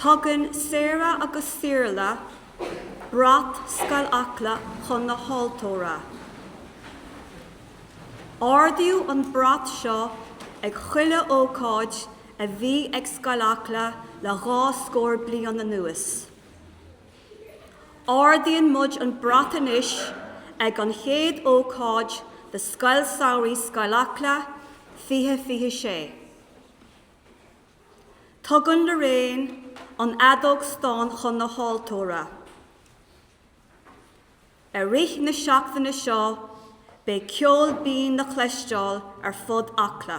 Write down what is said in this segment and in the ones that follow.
Tugann Sarah agus Saorla brat Scoil Acla chun na haltóra. Ardaíodh an brat seo ag chuile ócáid a bhí ag Scoil Acla le dhá scór bliain anuas. Ardaíonn muid an brat anois ag an chéad ócáid de Scoil Samhraidh Scoil Acla 2026. Tugann Lorraine an fheadóg stáin chun na háltóra. I rith na seachtaine seo beidh ceol binn le cloisteáil ar fud Acla.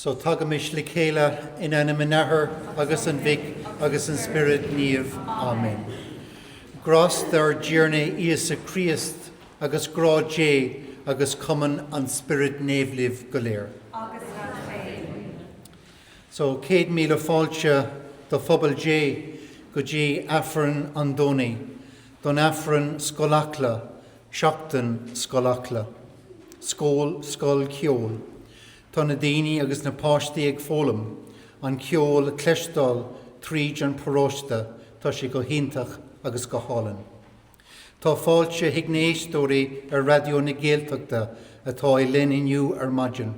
So tagaimis le chéile in ainm an Athar agus an Mhic agus an Spioraid Naoimh. Amen. Grásta ár dTiarna Íosa Críost Agus grá Dé agus cumann an Spioraid Naoimh libh go léir. Agus leat féin. So, Céad Míle Fáilte do Phobal Dé go dtí Aifreann an Domhnaigh don Aifreann Scoil Acla, Seachtain Scoil Acla. Scól, Scoil Cheoil. Tá na daoine agus na páistí ag foghlaim an ceol, cloisteáil tríd an paróiste, tá sé go hiontach agus go hálainn. Tá fáilte chuig na héisteoirí ar Raidió na Gaeltachta atá linn inniu ar maidin.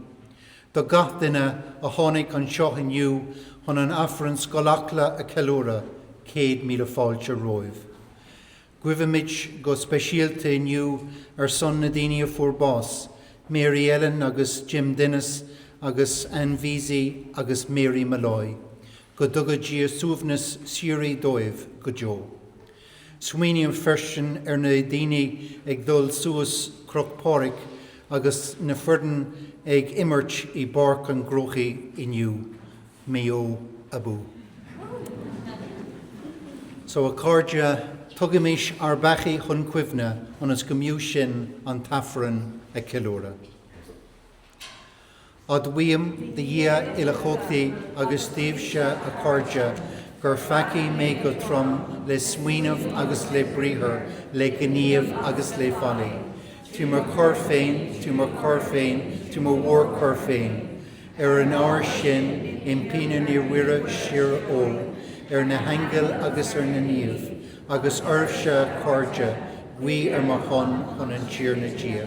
Do gach duine a tháinig anseo inniu chun an Aifreann Scoil Acla a ceiliúradh, céad míle fáilte romhaibh. Guímid go speisialta inniu ar son na daoine a fuair bás, Mary Ellen agus Jim Dennis agus Anne Veazey agus Mary Molloy. Go dtuga Dia suaimhneas síoraí dóibh go deo. Smaoiním freisin ar na daoine ag dul suas Cruach Phádraig agus na foireann ag imirt i bPáirc an gCrócaigh inniu. Maigh Eo abú! So a chairde, tugaimis ár bpeacaí chun cuimhne ionas go mb'fhiú sinn an t-Aifreann a ceiliúradh. Admhaím do Dhia Uilechumhachtach agus daoibhse a chairde gur pheacaigh mé go trom le smaoineamh agus le briathar, le gníomh agus le faillí. Trí mo choir féin, trí mo choir féin, trí mo mhórchoir féin. Ar an ábhar sin impím ar Naomh Muire Síor-Ógh, ar na haingil agus ar na naoimh, agus oraibhse a chairde, guí ar mo shon chun an Tiarna Dia.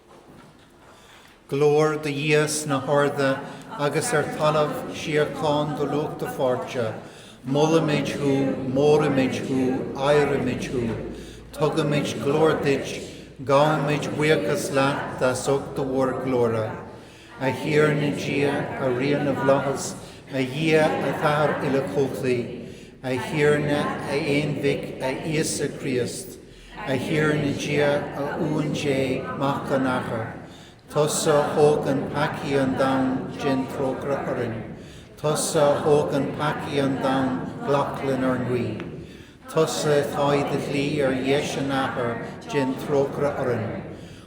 Glóir do Dhia sna harda agus ar talamh síocháin do lucht a pháirte. Molaimid thú, móraimid thú, adhraimid thú. Tugaimid glóir duit, gabhaimid buíochas leat as ucht do mhórghlóire. A Thiarna Dia, a Rí na bhflaitheas, a Dhia, a Athair uilechumhachtaigh, a Thiarna, a Aon-Mhic, a Íosa Críost, A Thiarna Dia, a Uain Dé, Mac an Athar, tusa a thógann peacaí an domhain, déan trócaire orainn. Tusa a thógann peacaí an domhain, glac lenár nguí. Tusa atá i do shuí ar dheis an Athar, déan trócaire orainn.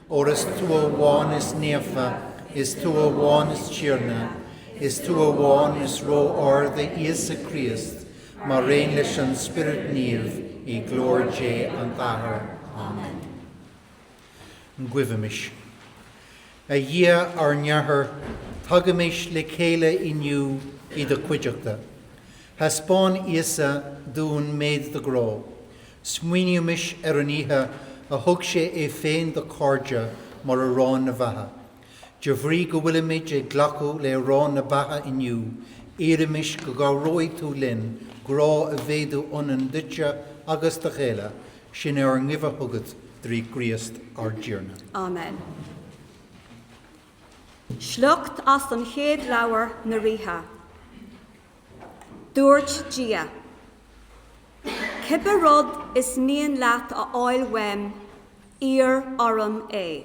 Óir is tú amháin is naofa, is tú amháin is Tiarna, is tú amháin is Ró-Ard, a Íosa Críost, mar aon leis an Spiorad Naomh i nglóir Dé an Athar. Amen. Guímis. A Dhia ár nAthair, tagaimis le chéile inniu i do chuideachta. Thaispeáin Íosa dúinn méid do ghrá. Smaoinímis ar an oíche a thug sé é féin dá chairde mar arán na beatha. De bhrí go bhfuilimid ag glacadh le arán na beatha inniu, iarraimis go gcabhróidh tú linn grá a mhéadú ionainn duitse agus dá chéile, sin é ár nguí chugat, trí Chríost ár dTiarna. Amen. Sliocht as an Chéad Leabhar na Ríthe. Dúirt Dia, 'Cibé rud is mian leat a fháil uaim, iarr orm é.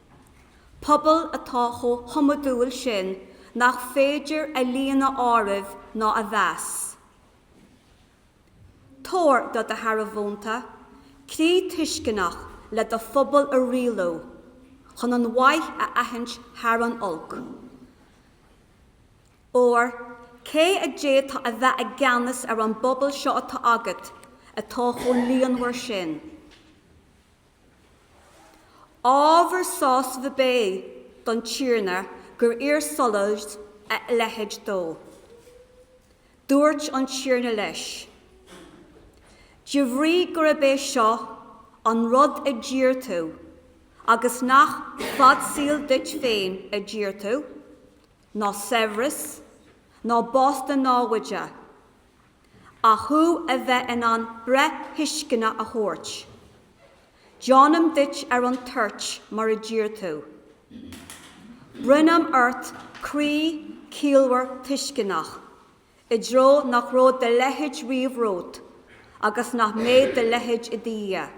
pobal atá chomh hiomadúil sin nach féidir a líon a áireamh ná a mheas. Tabhair do do shearbhónta croí tuisceanach le do phobal a rialú chun an mhaith a aithint thar an olc. Óir cé a d'fhéadfadh a bheith i gceannas ar an bpobal seo atá agat atá chomh líonmhar sin? Ábhar sásaimh ab ea don Tiarna gur iarr Solamh a leithéid dó. Dúirt an Tiarna leis, De bhrí gurb é seo an rud a d'iarr tú agus nach fad saoil duit féin a d'iarr tú, ná saibhreas, ná bás do naimhde, ach thú a bheith in ann breith thuisceanach a thabhairt. Déanaim duit ar an toirt mar a d'iarr tú. Bronnaim ort croí ciallmhar tuisceanach, i dtreo nach raibh do leithéid riamh romhat agus nach mbeidh do leithéid i do dhiaidh.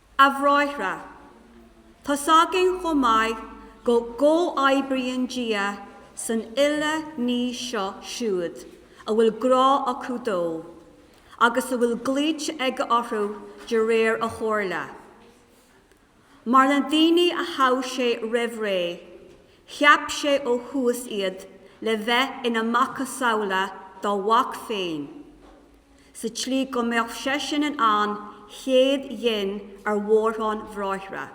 A bhráithre, tá 's againn chomh maith go gcomhoibríonn Dia san uile ní leo siúd a bhfuil grá acu dó agus a bhfuil glaoite aige orthu de réir a chomhairle. Mar na daoine a thogh sé roimh ré, cheap sé ó thús iad le bheith ina macasamhla dá Mhac féin, sa tslí go mbeadh seisean ina chéadghin ar mhórán bhráithre.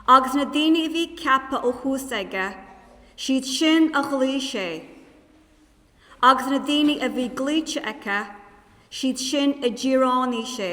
Agus na daoine a bhí ceaptha ó thús aige, is iad sin a ghlaoigh sé, agus na daoine a bhí glaoite aige, is iad sin a d'fhíréanaigh sé.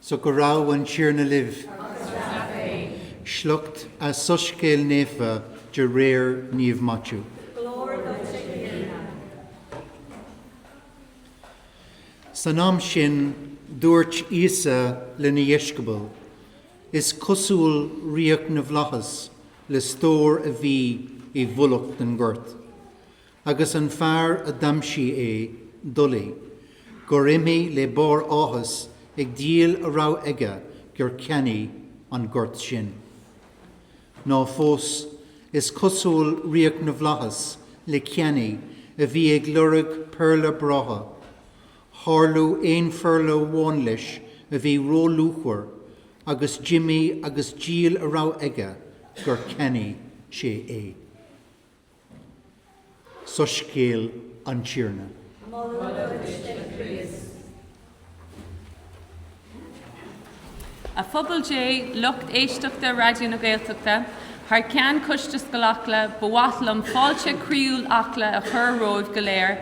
So go raibh an Tiarna libh. Agus leat féin. Sliocht as Soiscéal Naofa de réir Naomh Maitiú. Glóir duit a Thiarna. San am sin dúirt Íosa lena dheisceabail, Is cosúil ríocht na bhflaitheas le stór a bhí i bhfolach i ngort. agus an fear a d'aimsigh é, d'fholaigh gur imigh le barr áthais ag díol a raibh aige gur cheannaigh an gort sin. Ná fós, is cosúil ríocht na bhflaitheas le ceannaí a bhí ag lorg péarla breátha, tharla aon phéarla amháin leis a bhí róluachmhar agus d'imigh agus díol a raibh aige gur cheannaigh sé é. Soiscéal an Tiarna. Moladh duit, a Chríost. A Phobal Dé, lucht éisteachta Raidió na Gaeltachta, thar ceann Choiste Scoil Acla, ba mhaith liom fáilte chroíúil Acla a chur romhaibh go léir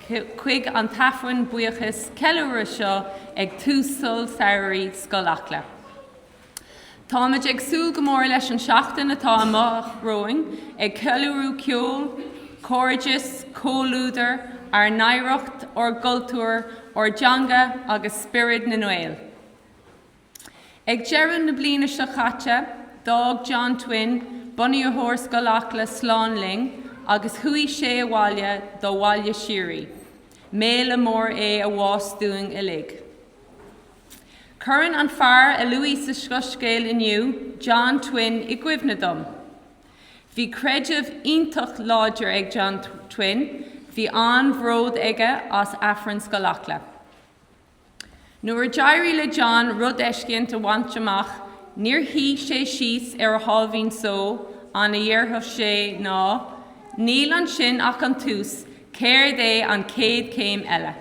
chuig an tAifreann buíochais, ceiliúrtha seo ag tús Scoil Samhraidh Scoil Acla. Táimid ag súil go mór leis an tseachtain atá amach romhainn, ag ceiliúradh ceol, cairdeas, comhluadar, ár n-oidhreacht, ár gcultúr, ár dteanga agus spiorad na nGael. Ag deireadh na bliana seo caite, d'fhág John Twin McNamara, bunaitheoir Scoil Acla slán linn agus chuaigh sé abhaile dá bhaile síoraí. Méala mór é a bhás dúinn uilig. Cuireann an fear a luadh sa Soiscéal inniu, John Twin, i gcuimhne dom. Bhí creideamh iontach láidir ag John Twin, bhí an-bhród aige as Aifreann Scoil Acla. Nuair a d'éirigh le John rud eiscéint a bhaint amach, níor shuigh sé síos ar a sháimhín só, an rud a déarfadh sé, ná, Níl ansin ach an tús, céard é an chéad céim eile?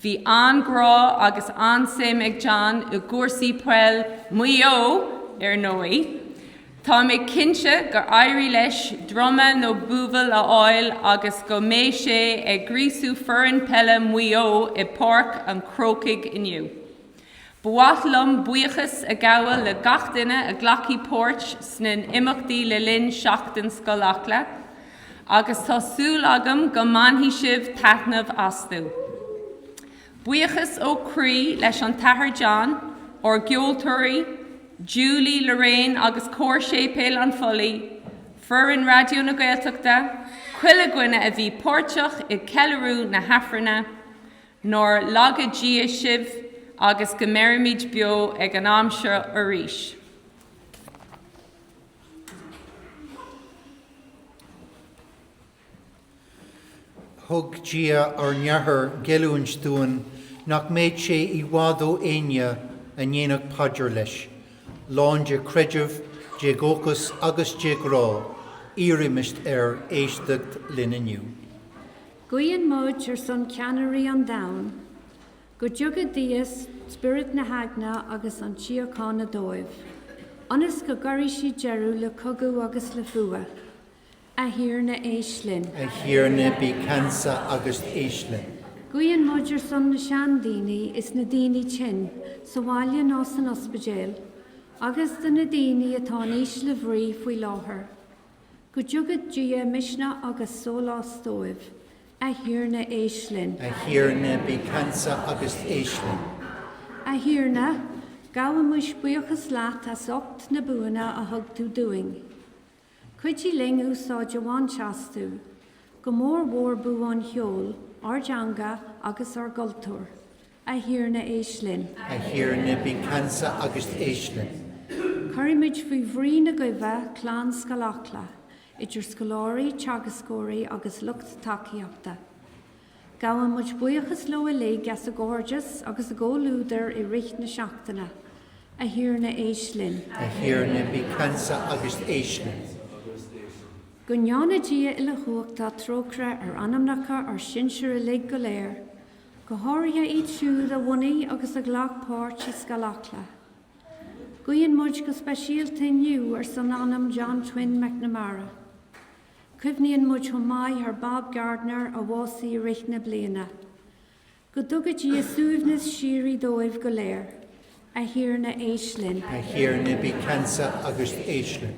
Bhí an-ghrá agus an-suim ag John i gcúrsaí peil Mhaigh Eo, ar ndóigh. Tá mé cinnte gur éirigh leis druma nó buabhall a fháil agus go mbeidh sé ag gríosú foireann peile Mhaigh Eo i bPáirc an Chrócaigh inniu. Ba mhaith liom buíochas a ghabháil le gach duine a ghlacfaidh páirt sna n-imeachtaí le linn Seachtain Scoil Acla agus tá súil agam go mbainfidh sibh taitneamh astu. Buíochas ó chroí leis an tAthair John, ár gceoltóirí, Julie, Lorraine agus Cór Séipéal an Phollaigh, foireann Raidió na Gaeltachta, chuile dhuine a bhí páirteach i gceiliúradh na hAifrinne, Nár laga Dia sibh agus go mbeirimid beo ag an am seo arís. Thug Dia ár nAthair gealltanas dúinn nach mbeadh sé i bhfad ó éinne a ndéarfadh paidir leis. Lán de chreideamh, de dhóchas agus de ghrá, iarraimis air éisteacht linn inniu. Guíonn muid ar son ceannairí an domhain, go dtabharfaidh Dia spiorad na heagna agus an tsíochána dóibh, ionas go gcuirfidh siad deireadh le cogadh agus le fuath. A Thiarna, éist linn. A Thiarna, bí ceansa agus éist linn. Guíonn muid ar son na seandaoine is na daoine tinn, sa bhaile nó san ospidéal, agus do na daoine atá in ísle bhrí faoi láthair. Go dtabharfaidh Dia misneach agus sólás dóibh. A Thiarna, éist linn. A Thiarna, bí ceansa agus éist linn. A Thiarna, gabhaimid buíochas leat as ucht na buanna a thug tú dúinn. Cuidigh linn úsáid a bhaint astu, go mór mhór bua an cheoil, ár dteanga agus ár gcultúr. A Thiarna éist linn. A Thiarna bí ceansa agus éist linn. Cuirimid faoi bhrí na guí clann Scoil Acla, idir scoláirí, teagascóirí agus lucht tacaíochta. Gabhann muid buíochas leo uilig as a gcairdeas agus a gcomhluadar i rith na seachtaine. A Thiarna éist linn. A Thiarna bí ceansa agus éist linn. Go ndéana Dia uilechumhachtach trócaire ar anamnacha ár sinsir uilig go léir. go háirithe iad siúd a bhunaigh agus a ghlac páirt i Scoil Acla. Guíonn muid go speisialta inniu ar son anam John Twin McNamara. Cuimhníonn muid chomh maith ar Bob Gardiner a bhásaigh i rith na bliana. Go dtuga Dia suaimhneas síoraí dóibh go léir. A Thiarna éist linn. A Thiarna bí ceansa agus éist linn.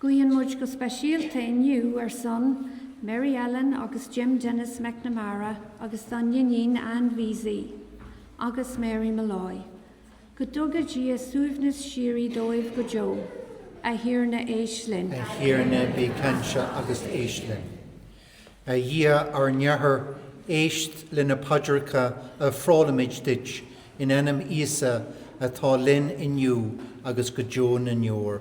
Guíonn muid go speisialta inniu ar son Mary Ellen agus Jim Denis McNamara agus dá n-iníon Anne Veazey agus Mary Molloy, go dtuga Dia suaimhneas síoraí dóibh go deo, a Thiarna éist linn. A Thiarna bí ceansa agus éist linn. A Dhia ár nAthair, éist le na paidreacha a ofrálaimid duit in ainm Íosa atá linn inniu agus go deo na ndeor.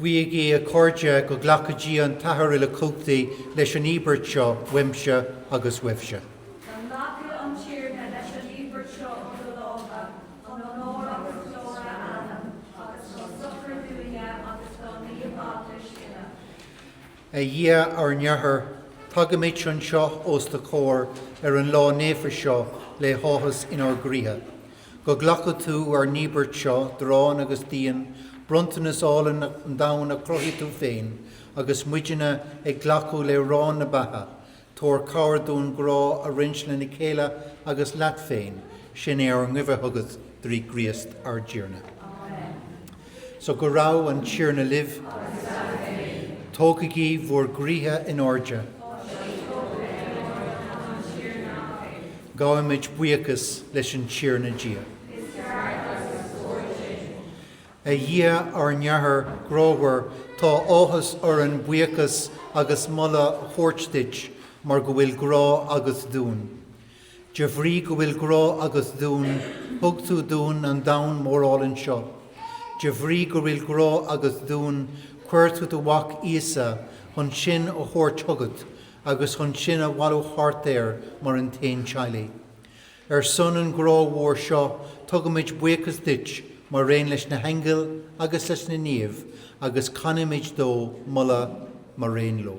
Guígí, a chairde, go nglaca Dia an tAthair Uilechumhachtach leis an íobairt seo uaimse agus uaibhse. Go nglaca an Tiarna leis an íobairt seo ó do lámha, chun onóir agus glóir a ainm, agus chun sochair dúinne agus don Naomheaglais uile. A Dhia, ár nAthair, tagaimid anseo os do chomhair ar an lá naofa seo le háthas inár gcroíthe. Go nglaca tú ár n-íobairt seo d'arán agus d'fhíon, bronntanas álainn an domhain a chruthaigh tú féin, agus muidne ag glacadh le harán na beatha, tabhair cabhair dúinn grá a roinnt lena chéile agus leat féin, sin é ár nguí chugat, trí Chríost ár dTiarna. Amen. So go raibh an Tiarna libh. Agus leat féin. Tógaigí bhur gcroíthe in airde. Tá siad tógtha in airde againn chun an Tiarna Dia. Gabhaimid buíochas leis an Tiarna Dia. Is ceart agus is cóir sin. A Dhia ár nAthair grámhar, tá áthas orainn buíochas agus moladh a thabhairt duit mar go bhfuil grá agat dúinn. De bhrí go bhfuil grá agat dúinn, thug tú dúinn an domhan mór álainn seo. De bhrí go bhfuil grá agat dúinn, chuir tú do Mhac Íosa chun sinn a thabhairt chugat agus chun sinn a bhailiú thart air mar an t-aon teaghlaigh. Ar son an ghrá mhóir seo, tugaimid buíochas duit maraon leis na haingil agus leis na naoimh agus canaimid do mholadh maraon leo.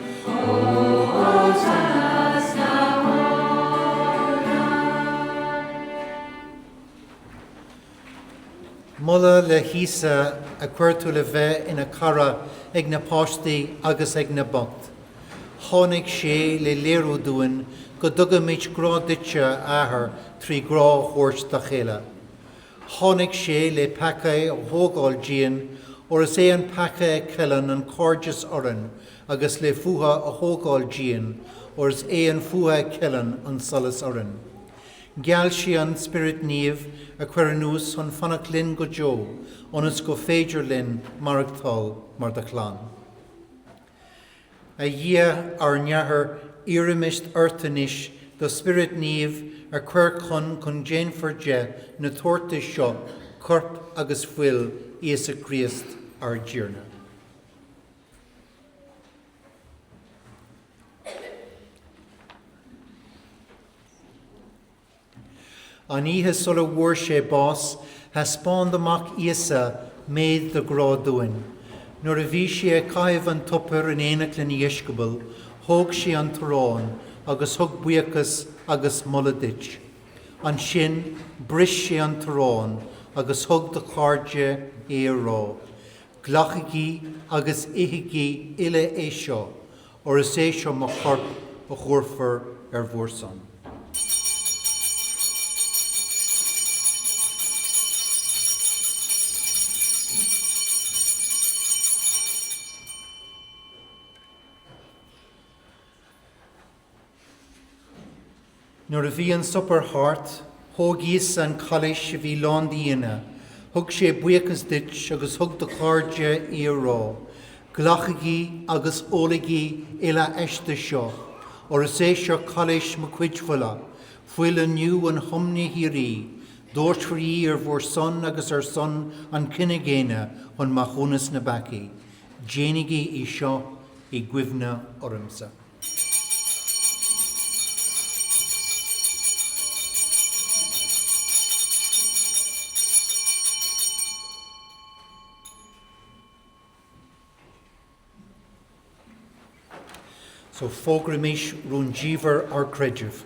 Moladh le hÍosa a chuir tú le bheith ina chara ag na páistí agus ag na boicht. Tháinig sé le léiriú dúinn go dtugaimid grá duitse, a Athair, trí ghrá a thabhairt dá chéile. Tháinig sé le peacaí a thógáil dínn, óir is é an peaca a cheileann an cairdeas orainn, agus le fuath a thógáil dínn, óir is é an fuath a cheileann an sonas orainn. Gheall sé an Spiorad Naomh a chur anuas chun fanacht linn go deo ionas gur féidir linn maireachtáil mar do chlann. A Dhia, ár nAthair, iarraimid ort anois do Spiorad Naomh a chur chun go ndéanfar de na tabhartais seo corp agus fuil Íosa Críost ár dTiarna. An oíche sula bhfuair sé bás, thaispeáin do Mhac Íosa méid do ghrá dúinn. Nuair a bhí sé ag caitheamh an tsuipéir in éineacht lena dheisceabail, thóg sé an t-arán agus thug buíochas agus moladh duit. Ansin bris sé an t-arán agus thug dá chairde é á rá, Glacaigí agus ithigí uile é seo, óir is é seo mo chorp a thabharfar ar bhur son. Nuair a bhí an suipéar thart, thóg Íosa an cailís a bhí lán d'fhíon, thug sé buíochas duit agus thug dá chairde í á rá, 'Glacaigí agus ólaigí uile aisti seo, óir is í seo cailís mo chuid fola, fuil an nuathiomna shíoraí, doirtfear í ar bhur son agus ar son an chine dhaonna chun maithiúnas na bpeacaí. Déanaigí é seo i gcuimhne ormsa. So fógraímís rúndiamhair ár gcreidimh.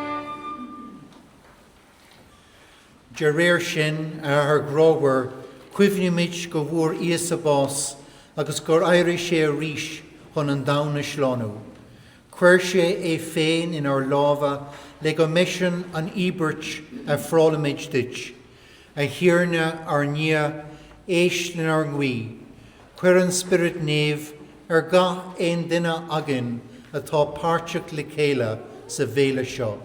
De réir sin, a Athair ghrámhair, cuimhnímid go bhfuair Íosa bás agus gur éirigh sé arís chun an domhan a shlánú. Chuir sé é féin inár lámha le go mba eisean an íobairt a ofrálaimid duit. A Thiarna, ár nDia, éist lenár nguí. Cuir an Spiorad Naomh ar gach aon duine againn atá páirteach le chéile sa bhéile seo.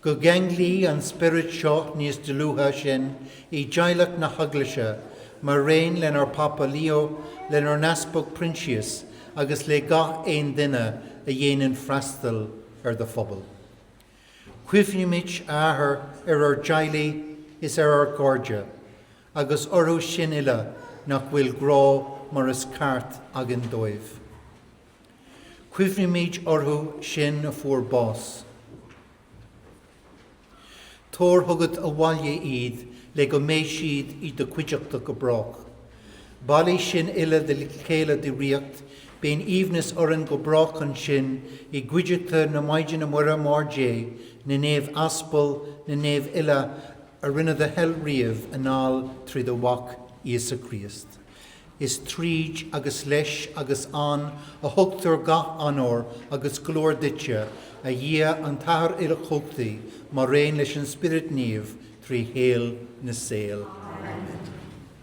Go gceanglí an Spiorad seo níos dlúithe sinn i dteaghlach na hEaglaise, maraon lenár bPápa Leo, lenár nEaspag Proinsias agus le gach aon duine a dhéanann freastal ar do phobal. Cuimhnímid, a Athair, ar ár dteaghlaigh is ar ár gcairde, agus orthu sin uile nach bhfuil grá mar is ceart againn dóibh. Cuimhnímid orthu sin a fuair bás. Tabhair chugat abhaile iad le go mbeidh siad i do cuideachta go brách. Bailigh sinn uile le chéile i do ríocht, bíonn aoibhneas orainn go brách ansin i gcuideachta na Maighdine Muire, Máthair Dé, na Naomh Aspal, na Naomh uile a rinne do thoil riamh anall trí do Mhac, Íosa Críost. Is tríd, agus leis, agus ann a thugtar gach onóir agus glóir duitse, a Dhia an tAthair Uilechumhachtaigh, maraon leis an Spiorad Naomh, trí shaol na saol. Amen.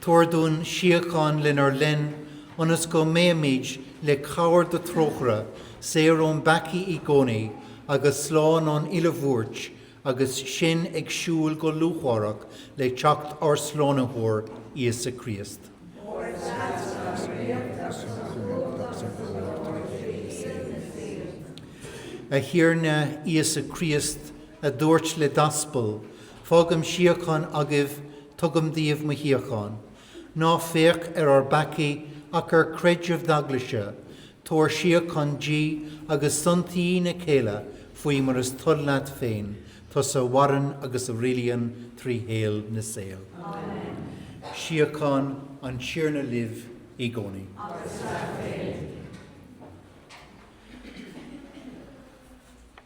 Tabhair dúinn síocháin lenár linn ionas go mbeimid, le cabhair do thrócaire, saor ón bpeacaí i gcónaí agus slán ón uile bhuairt agus sinn ag súil go lúcháireach le teacht ár Slánaitheoir, Íosa Críost. Óir is leatsa an ríocht agus an chumhacht agus an ghlóir trí shaol na saol. A Thiarna Íosa Críost, a dúirt le d'aspail, Fágaim síocháin agaibh, Tugaim daoibh mo shíocháin. Ná féach ar ár bpeacaí ach ar creideamh d'eaglaise, tabhair síocháin di agus aontaigh í ina chéile faoi mar is toil leat féin, tusa a mhaireann agus a rialaíonn trí shaol na saol. Amen. Síocháin an Tiarna libh i gcónaí. Agus leat féin.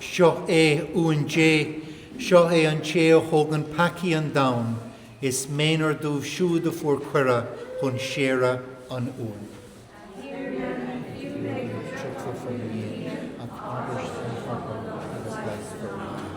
Seo é Uan Dé, seo é an té a thógann peacaí an domhain, is méanar dóibh siúd a fuair cuireadh chun séire an Uain. A Thiarna, ní fiú mé go dtiocfá faoi mo dhíon, ach abairse an focal agus leigheasfar m'anam.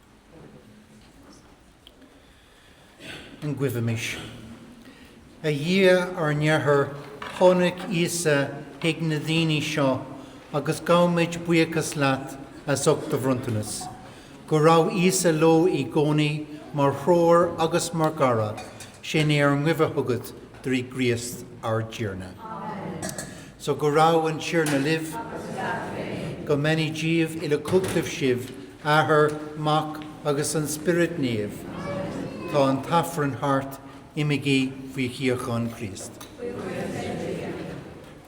Guímis. A Dhia ár nAthair, tháinig Íosa chuig na daoine seo agus gabhaimid buíochas leat as ucht do bhronntanas. Go raibh Íosa leo i gcónaí mar threoir agus mar chara, sin é ár nguí chugat Trí Chríost ár dTiarna. Amen. So go raibh an Tiarna libh. Agus leat féin. Go mbeannaí Dia uilechumhachtach sibh, Athair, Mac agus an Spiorad Naomh. Amen. Tá an tAifreann thart, imigí faoi shíocháin Chríost.